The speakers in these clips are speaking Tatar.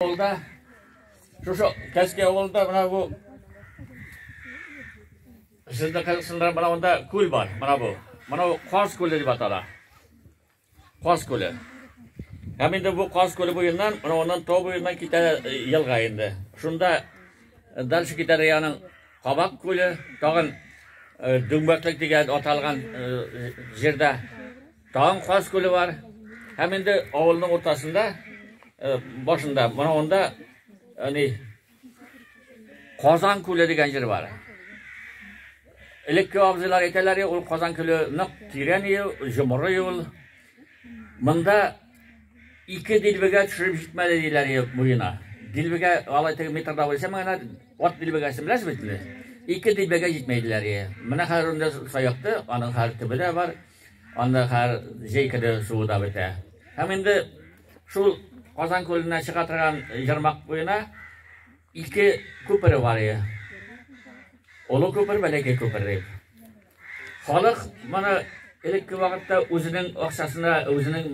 Авылда, шушы Кәске авылында мына бу Сездә кайсында мына монда күл бар, мына бу. Мына бу Каз күле дип атала. Каз күле. Һәм инде бу Каз күле буеннан, мына оннан тау буеннан китә елга инде. Шунда дальше китәр яның Кабак күле, тагын Дүңбәклек дигән аталган җирдә Тагын Каз күле бар. Һәм инде авылның уртасында, э, башында, менә анда әни Казан күле дигән җир бар. Элекке абзыйлар әйтәләр, ул Казан күле нык тирән ел, җомыры ел. Монда ике дилбегә төшереп җитмәде диләр ел буена. Дилбегә алай теге метрда булса, менә ат дилбегәсен беләсез бит инде. Ике дилбегә җитмәйдиләр. Менә хәзер инде саякты, аның хәзер төбе дә бар. Анда хәр җәй көне суы да бетә. Һәм инде шул Казан күленә чыга торган җырмак буена ике күпере бар иде. Олы күпер, бәләкәй күпер дип. Халык моны элекке вакытта үзенең акчасына, үзенең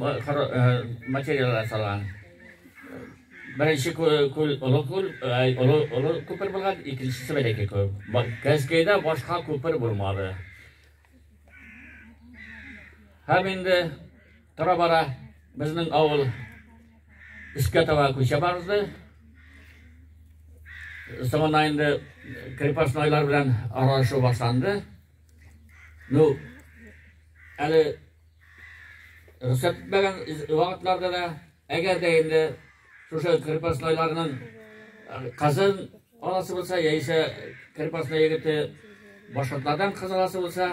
материаллар салган. Беренче күл олы күл, олы олы күпер булган, икенчесе бәләкәй күл. Кәзкәйдә башка күпер булмады. Һәм инде тора-бара безнең авыл искә таба күчә барды. Соңына инде крепостнойлар белән аралашу башланды. Ну, әле рөхсәт итмәгән вакытларда да, әгәр дә инде шушы крепостнойларның кызын Аласы булса, яисә Крепостной егете башкортлардан кыз аласы булса,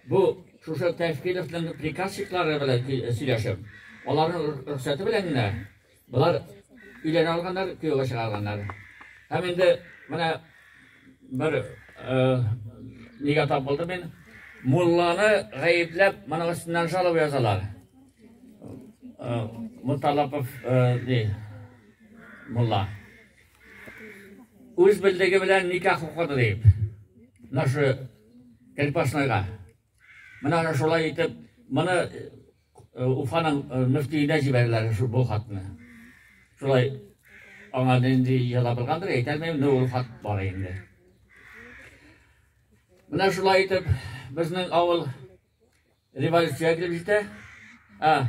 бу шушы Тәфкиловның приказчиклары белән сөйләшеп, аларның рөхсәте белән генә болар өйләнә алганнар, күйәүгә чыга алганнар. Һәм инде менә бер нигә тап булды мин, мулланы гаепләп, моның өстеннән жалоба язалар. Муталапов, ди, мулла. үз белдеге белән никах укыды дип, мына шу крепостнойга. Менә шулай итеп, моны э, Уфаның э, мөфтиенә җибәрделәр шу бу хатны. Шулай аңа нинди яза булгандыр, әйтәлмим, но ул хат бар инде. Менә шулай итеп, безнең авыл Революция килеп җитә. А,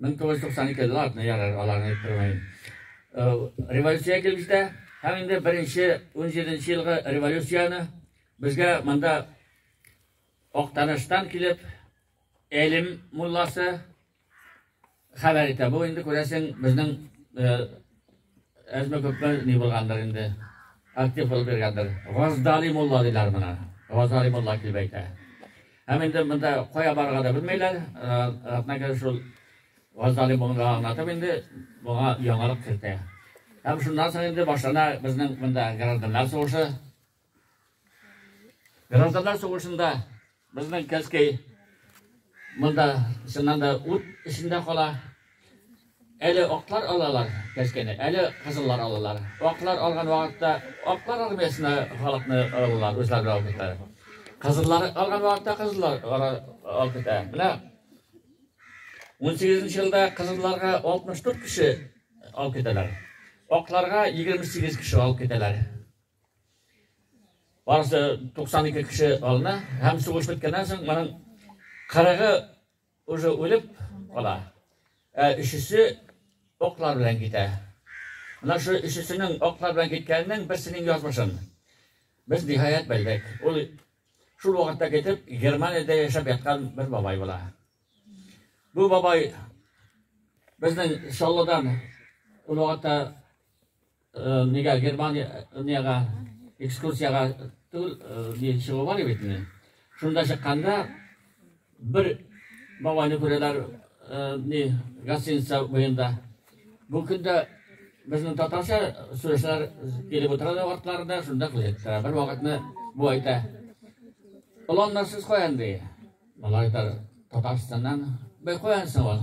1992 латны ярар аларны әйттермәйм. Революция килеп җитә. Һәм инде беренче 17 елгы революцияне безгә монда Актаныштан килеп, Әлим мулласы, хәбәр итә. Бу инде күрәсең безнең әзме күпме ни булгандыр инде. Актив булып биргәндер. Газдали мулла диләр моны. Газдали мулла килеп әйтә. Һәм инде монда кая барырга да белмәйләр. Атнага шул Газдали мулла аңлатып инде моңа яңалык кертә. Һәм шуннан соң инде башлана безнең монда гражданнар сугышы. Гражданнар сугышында безнең Кәскәй монда чыннан да ут эчендә кала. Әле аклар алалар Кәскәйне, әле кызыллар алалар. Аклар алган вакытта аклар армиясенә халыкны алалар, үзләре алып китә. Кызыллар алган вакытта кызыллар алып китә. Менә 18 елда кызылларга 64 кеше алып китәләр. Акларга 28 кеше алып китәләр. Барысы 92 кеше алына, һәм сугыш беткәннән соң моның кырыгы уже үлеп кала. Ә өчесе оклар белән китә. Менә шу өчесенең оклар белән киткәненең берсенең язмышын без ниһаять белдек. Ул шул вакытта китеп Германиядә яшәп яткан бер бабай була. Бу бабай безнең Шаллыдан ул вакытта Нигә Германиягә экскурсиягә түгел, ни чыгу бар бит инде. Шунда чыкканда бер бабайны күрәләр, ни гостиница буенда. Бу көндә безнең татарча сөйләшәләр, килеп утыралар артларында, шунда күрәләр. Бер вакытны бу әйтә. Оланнар сез каян ди? Малай татар Татарстаннан. Бай каян соң ул?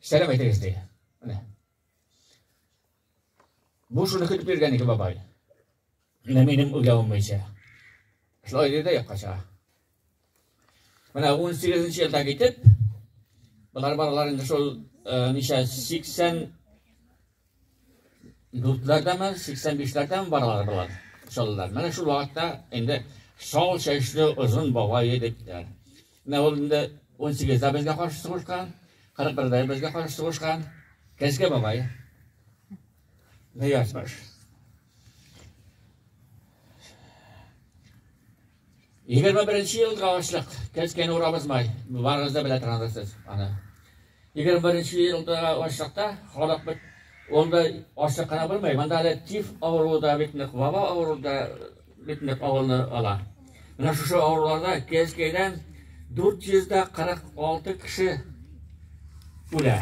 Сәлам әйтегез ди. Менә. Бу шуны көтеп йөргән ике бабай. Менә минем үлгәнем буенча. Шулай диде якка чыга. Менә 18 нче елда китеп, болар баралар инде шул ничә 80 дүртләрдәме, 85-ләрдәме баралар болар, шаллар. Менә шул вакытта инде шал чәчле озын бабай егетләр. Менә ул инде 18-дә безгә каршы сугышкан, 41-дә безгә каршы сугышкан Кәзгә бабай. Ниязбаш. Егерме беренче елга ачлык, кез кені урамызмай, барыңыз да белә торгандырсыз аны. Егерме беренче елда ачлыкта халык бит онда ачлык кына булмый, монда әле тиф авыруы да бит нык, ваба авыруы да бит нык авылны ала. Менә шушы авыруларда кез кенедән 446 кеше үлә.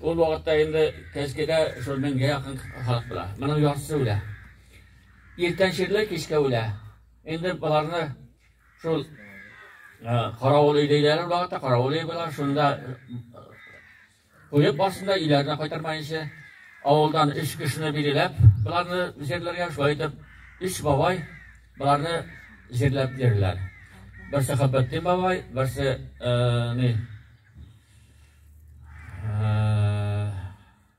Ул вакытта инде Кәскедә шул меңгә якын халык була. Моның яртысы үлә. Иртән чирле, кичкә үлә. Инде боларны шул каравыл өй диләр ул вакытта, каравыл өй була, шунда куеп барсында өйләренә кайтармаенча, авылдан өч кешене билгеләп, боларны җирләргә шулай итеп, өч бабай боларны җирләп йөриләр. Берсе Хәббәттин бабай, берсе ни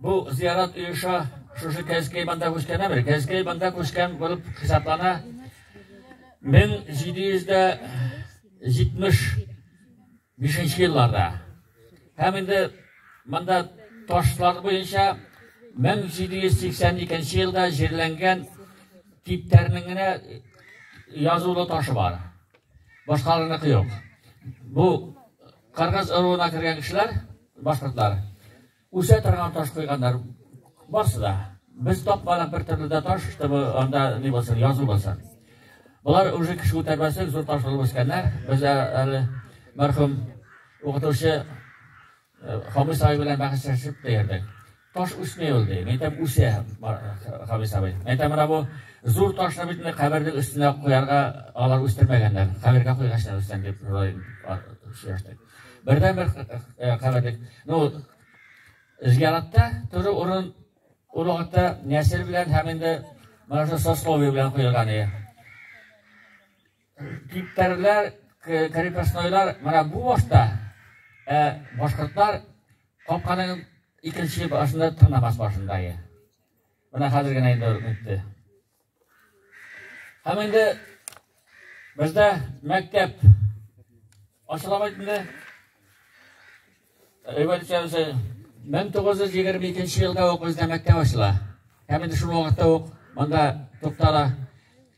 Бу зиярат оеша шушы Кәзкәй банда күчкәнә бер. Кәзкәй банда күчкән булып хисаплана. 1775 елларда. Һәм инде монда ташлар буенча 1782 елда җирләнгән типтәрнең генә язулы ташы бар. Башкаларына кыйок. Бу Каргаз ыруына кергән кешеләр, башкортлар. Үсә торган таш куйганнар барсы да. Без тапмадык бер төрле дә таш, чтобы анда ни булсын, язу булсын. Болар уже кеше үтәрмәсен, зур таш булып үскәннәр. Без әле мәрхүм укытучы Хамис абый белән бәхәсләшеп тә йөрдек. Таш үсми ул ди. Мәйтәм үсә Хамис абый. Мәйтәм менә бу зур ташны бит инде кабернең өстенә куярга алар үстермәгәннәр. Кабергә куйгачлар үстән дип сөйләштек. Бердән бер каберлек. Ну, зияратта төрле урын урагатта нәсел белән һәм инде менә шул сословие белән куелган иде. Типтәрләр, крепостнойлар менә бу башта, ә башкортлар капканың икенче башында тырнамас башында иде. Менә хәзер генә инде үтте. Һәм инде бездә мәктәп ачыла бит инде. Революция 1922 елда ук бездә мәктәп ачыла. Һәм инде шул вакытта ук монда туктала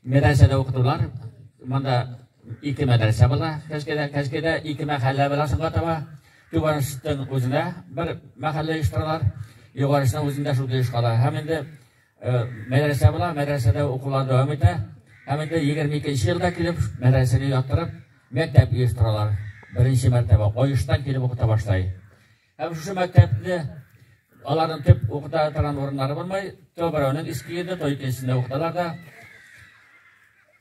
мәдрәсәдә укытулар. Монда ике мәдрәсә була. Кәскедә, кәскедә ике мәхәллә була соңга таба. Түбәнштең үзендә бер мәхәллә оештыралар. Югарышның үзендә шул оешкала. Һәм инде Мәдрәсә була, мәдрәсәдә укулар дәвам итә. Һәм инде 22 елда килеп, мәдрәсәне яттырып, мәктәп оештыралар. Беренче мәртәбә Оештан килеп укыта башлай. Һәм шушы мәктәпне аларның төп укыта торган урыннары булмай, то берәүнең иске йөрде, то икенчесендә укыталар да.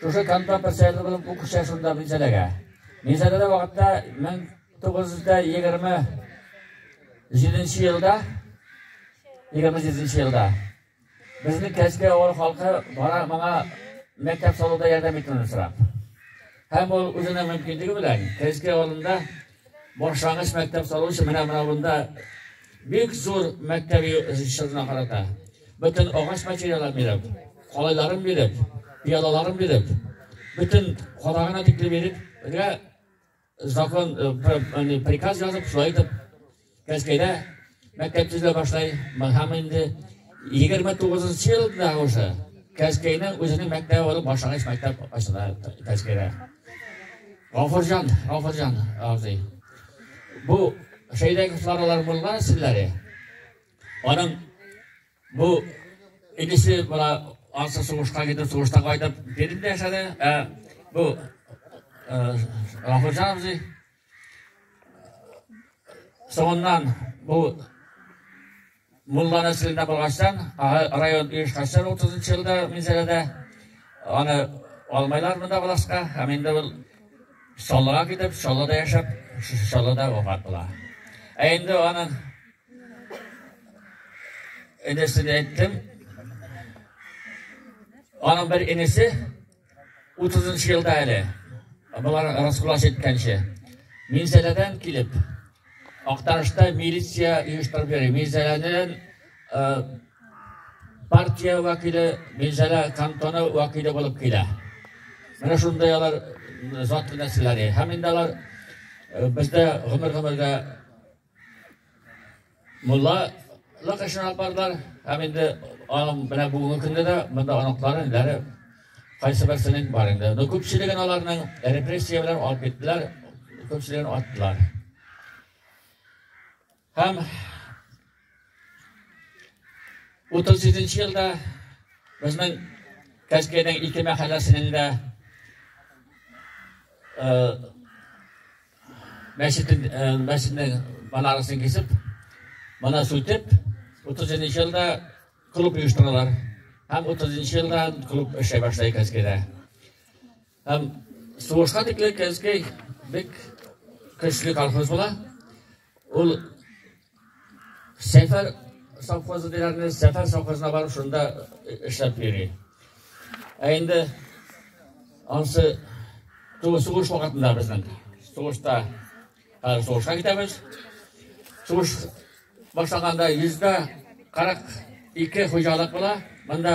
Шушы кантон председателе булып бу кичә шунда Минзәләгә. Минзәләдә вакытта 1927 елда 27 елда безнең Кәҗкә авыл халкы бара моңа мәктәп салуда ярдәм итүне сорап. Һәм ул үзенең мөмкинлеге белән Кәҗкә авылында Башлангыч мәктәп салу өчен менә менә монда бик зур мәктәби җырына карата. Бөтен агач материалын биреп, калайларын биреп, пиялаларын биреп, бөтен кадагына тикле биреп, закон, приказ язып, шулай итеп, Мәскәүдә мәктәп төзелә башлай, һәм инде 29 елда уже Кәскәйне үзенең мәктәбе булып башлангыч мәктәп ачыла Кәскәйдә. Гафурҗан, Гафурҗан абзый. Бу шәйдәге флоралар булган силләре. Аның бу инесе була ансы сугышка китеп, сугышта кайтып, бердә яшәде. Ә бу Гафурҗан абзый Соңыннан бу Мулланы сүзенә булгачтан, район оешкачтан 30 елда Минзәләдә аны алмайлар монда булашка, һәм инде ул Чаллыга китеп, Чаллыда яшәп, Чаллыда вафат була. Ә инде аның энесен әйттем. Аның бер энесе Утызынчы елда әле, болар раскулач әйткәнчә, Минзәләдән килеп, Актарышта милиция оештырып йөри. Минзәләнен партия вәкиле, Минзәлә кантоны вәкиле булып килә. Менә шундай алар затлы нәрсәләре. Һәм инде алар бездә гомер-гомергә Мулла лык эшен алып бардылар һәм инде аның менә бүгенге көндә дә монда оныклары инләре кайсы берсенең бар инде но күпчелеген аларның репрессия белән алып киттеләр күпчелеген аттылар һәм утыз җиденче елда безнең кәскәйнең ике мәхәлләсенең дә Мәчетен, мәчетнең банарасын кисеп, бана сүтеп, 30 елда клуб оештыралар. Һәм 30 елда клуб эшли башлый Кәзгедә. Һәм сугышка тикле Кәзгей бик көчле колхоз була. Ул Сәфәр совхозы диләрне, Сәфәр совхозына барып шунда эшләп йөри. Ә инде ансы тугыз сугыш вакытында безнең сугышта хәзер сугышка китәбез. Сугыш башланганда йөздә кырык ике хуҗалык була. Монда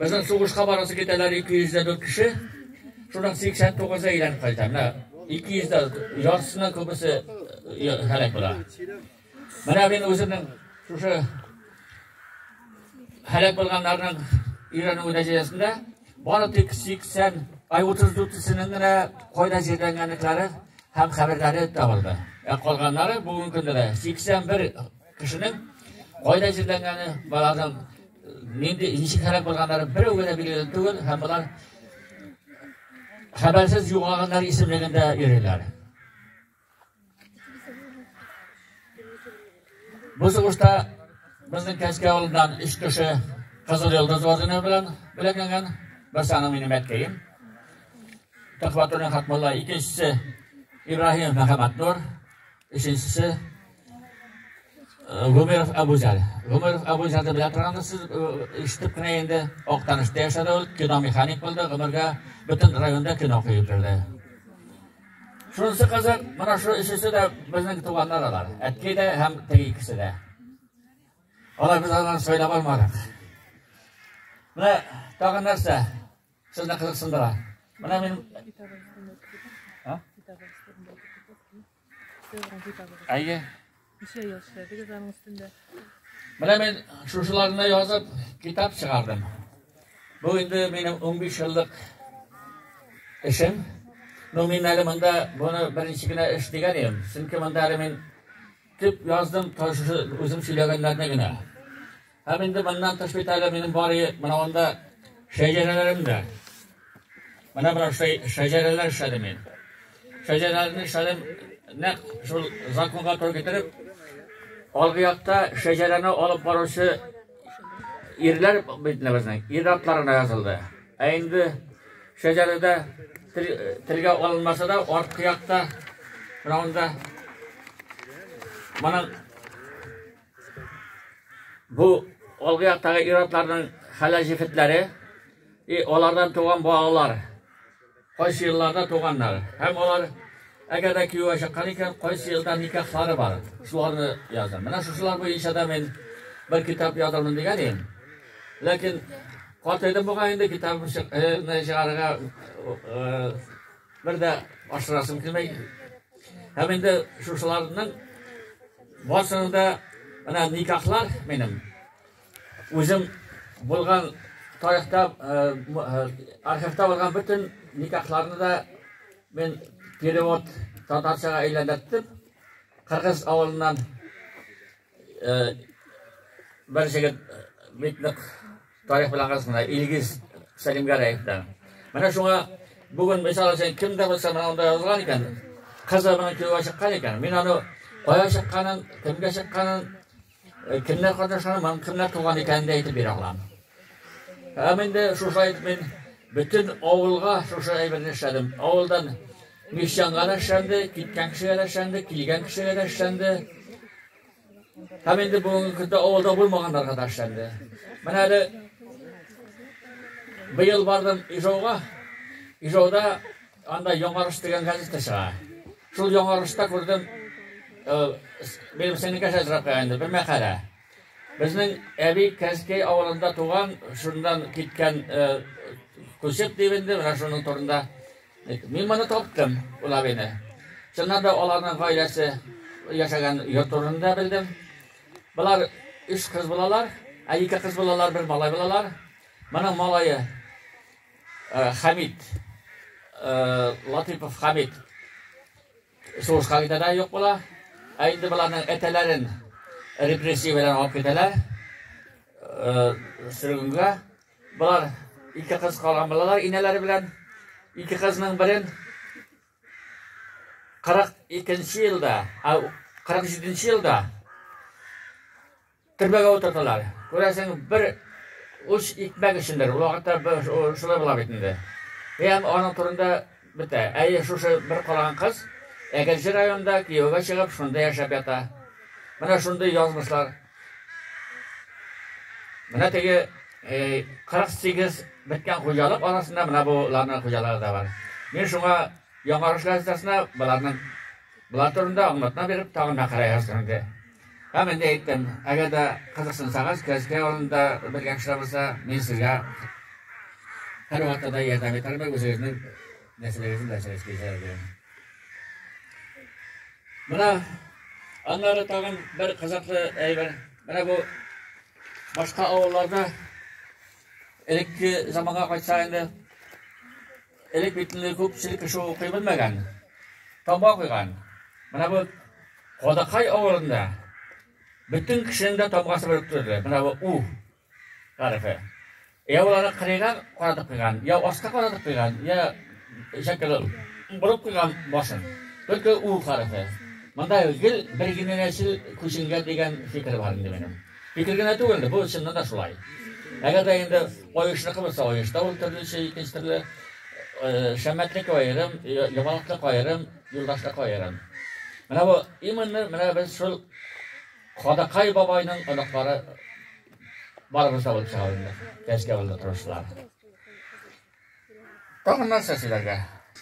Безнең сугышка барасы китәләр 204 кеше. Шуның 89-ы әйләнеп кайта. Менә 200 дә ярсына күбесе һәлак була. Менә мин үземнең шушы һәлак булганнарның өйрәнү нәтиҗәсендә бары тик 80 ай 34-сенең генә кайда җирләнгәнлекләре һәм хәбәрләре табылды. Ә калганнары бүгенге көндә 81 Кешенең кайда җирләнгәне, баланың нинди ничек һәлак булганнары берәү генә билгеле түгел һәм болар хәбәрсез югалганнар исемлегендә йөриләр. Бу сугышта безнең Кәскә авылыннан өч кеше Кызыл Йолдыз ордены белән бүләкләнгән. Бер саны минем әткәем. Төхвәтуллин Хатмулла, икенчесе Ибраһимов Мәхәббәтнур. Өченчесе Гомеров Абузар. Гомеров Абузар да белән торганда сез ишетеп кенә инде Актанышта яшәде ул, кино механик булды, гомергә бөтен районда кино куеп йөрде. Шунысы кызык, менә шу өчесе дә безнең туганнар алар. Әткәй дә һәм теге икесе дә. Алар без аларны сайлап алмадык. Менә тагын нәрсә? Сез дә кызыксындыра. Менә мин Әйе. Ничә ел эшләдегез аның өстендә? Менә мин шушыларны язып, китап чыгардым. Бу инде минем 15 еллык эшем. Ну, мин әле монда буны беренче генә эш дигән идем. Чөнки монда әле мин төп яздым, үзем сөйләгәннәрне генә. Һәм инде моннан тыш бит әле минем бар иде, менә анда шәҗәрәләрем дә. Менә бер шәҗәрәләр эшләдем мин. Шәҗәрәләрне эшләдем, нәкъ шул законга туры китереп, алгы якта шәҗәрәне алып баручы ирләр бит безнең, ир атларына язылды. Ә инде шәҗәрәдә телгә алынмаса да, арткы якта, менә анда, моның Бу алгы яктагы ир-атларның хәләл җефетләре и алардан туган балалар. Кайсы елларда туганнар. Һәм алар әгәр дә күйәүгә чыккан икән, кайсы елда никахлары бар. Шуларны язам. Менә шушылар буенча да мин бер китап язармын дигән идем. Ләкин картайдым бугай инде китабымны чыгарырга Бер дә ашырасым килмәй. Һәм инде шушыларның барсының да менә никахлар минем. Үзем булган тарихта, архивта булган бөтен никахларны да мин перевод татарчага әйләндерттем. Кыргыз авылыннан Бер җегет бит нык тарих белән арасында Илгиз Сәлимгәрәевтән. Менә шуңа бүген мисал өчен кем дә булса менә анда язган икән, кызы менә кияүгә чыккан икән. Мин аны кая чыкканын, кемгә чыкканын, э, кемнәр катнашканын, ман кемнәр туган икәнен дә әйтеп бирә алам. Һәм инде шушы әйтеп мин бөтен авылга шушы әйберне эшләдем. Авылдан Мещанга да эшләнде, киткән кешегә дә эшләнде, килгән кешегә дә эшләнде. Һәм инде бүгенге көндә авылда булмаганнарга да эшләнде. Менә әле быел бардым Ижауга. Ижауда анда Яңарыш дигән газета чыга. Шул Яңарышта күрдем, минем сеңлекә шәзрәп инде бер мәкалә. Безнең әби Кәскәй авылында туган, шуннан киткән күчеп дип инде, менә шуның турында Мин моны таптым, ул абыйны. Чыннан да аларның гаиләсе яшәгән йорт турында белдем. Болар өч кыз булалар, ә ике кыз булалар, бер малай булалар. Моның малае э, Хамид, э, Латипов Хамид сугышка китә дә юк була. Ә инде боларның әтәләрен репрессия белән алып китәләр. Э, Сөргенгә Болар ике кыз калган булалар инәләре белән. Ике кызның берен 42 елда, 47 елда төрмәгә утырталар. Күрәсең, бер уч икмәк өчендер. Ул вакытта шулай була бит инде. Һәм аның турында бетә. Әйе, шушы бер калган кыз Әгерҗе районында кияүгә чыгып, шунда яшәп ята. Менә шундый язмышлар. Менә теге 48 беткән хуҗалык арасында менә буларның хуҗалары да бар. Мин шуңа яңарыш газетасына боларның болар турында аңлатма биреп, тагын мәкалә яздым инде. Һәм инде әйттем, әгәр дә кызыксынсагыз, Кәзкә авылында белгән кешеләр булса, мин сезгә һәрвакытта да ярдәм итәрмен, үзегезнең Нәрсәләрегез белән сөйләшкәч әле. Менә аннары тагын бер кызыклы әйбер. Менә бу башка авылларда элекке заманга кайтса инде элек бит инде күпчелек кеше укый белмәгән. Таба куйган. Менә бу Кадакай авылында бөтен кешенең дә табгасы белеп торды. Менә бу у Гарифе. Я уларны кырыйган, каратып куйган, я аска каратып куйган, я шәкеле борып куйган башын. Только у гарифе. Монда гел бер генә нәсел күченгән дигән фикер бар инде минем. Фикер генә түгел, бу чыннан да шулай. Әгәр дә инде оешны кылса, оешта ул төрлечә икенче төрле шәмәтлек аерым, ямалыклык аерым, юлдашлык аерым. Менә бу именно менә без шул Кадакай бабайның оныклары барыбыз да булып чыга инде. Кәчкә булды торышлар. Тагын нәрсә сөйләргә?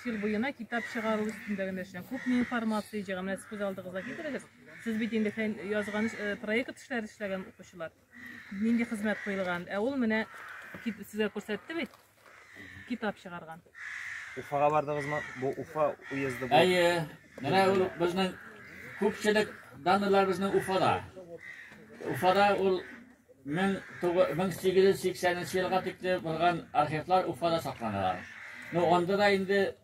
Ел буена китап чыгару өстендә генә эшлән. Күпме информация җыйган, менә сез күз алдыгызга китерегез. Сез бит инде фән язган э, проект эшләр эшләгән укучылар. Нинди хезмәт куелган? Ә ул менә кит- сезгә күрсәтте бит. Китап чыгарган. Уфага бардыгызмы? Бу Уфа уезды бу. Әйе. Менә ул безнең күпчелек данлар безнең Уфада. Уфада ул 1880 елга тикле булган архивлар Уфада сакланалар. Ну, анда да инде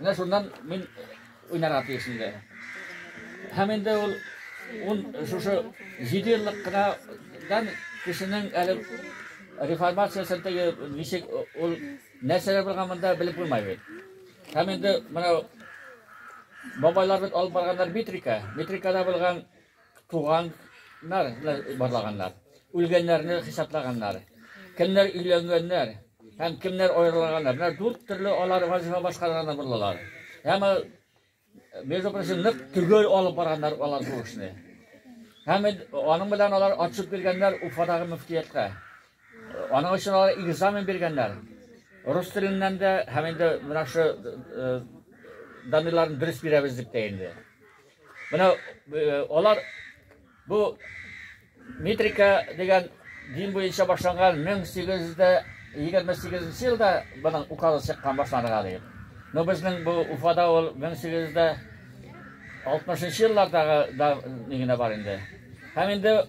Менә шуннан мин уйнарга тиеш инде. Һәм инде ул ун шушы җиде еллык кынадан кешенең әле реформациясен теге ничек ул нәрсәләр булган монда белеп булмай бит. Һәм инде менә бабайлар бит алып барганнар метрика. Метрикада булган Туганнар барлаганнар, үлгәннәрне хисаплаганнар. Кемнәр өйләнгәннәр һәм кемнәр аерылганнар. Менә дүрт төрле алар вазифа башкарганда булдылар. Һәм э, между прочим, нык төгәл алып барганнар алар бу эшне. Һәм аның белән алар ачып биргәннәр Уфадагы мөфтияткә. Аның өчен алар экзамен биргәннәр. Рус теленнән дә һәм инде менә шу э, данныйларын дөрес бирәбез дип тә инде. Менә э, алар бу метрика дигән дин буенча башланган 1828 елда моның указы чыккан башланырга диеп. Но безнең бу Уфада ул 1860 еллардагы да нигенә бар инде. Һәм инде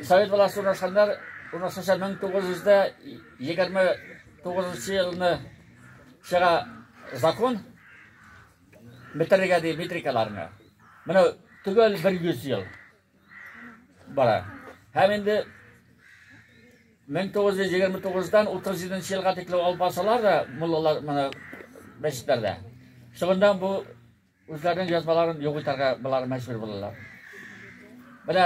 Совет власты урнашканнар урнашканча 1929 елны чыга закон Бетерергә ди метрикаларны. Менә төгәл 100 ел бара. Һәм инде 1929-дан 37 елга тикле алып барсалар да, муллалар менә мәчетләрдә. Шуңда бу үзләренең язмаларын юк итәргә булар мәҗбүр булалар. Менә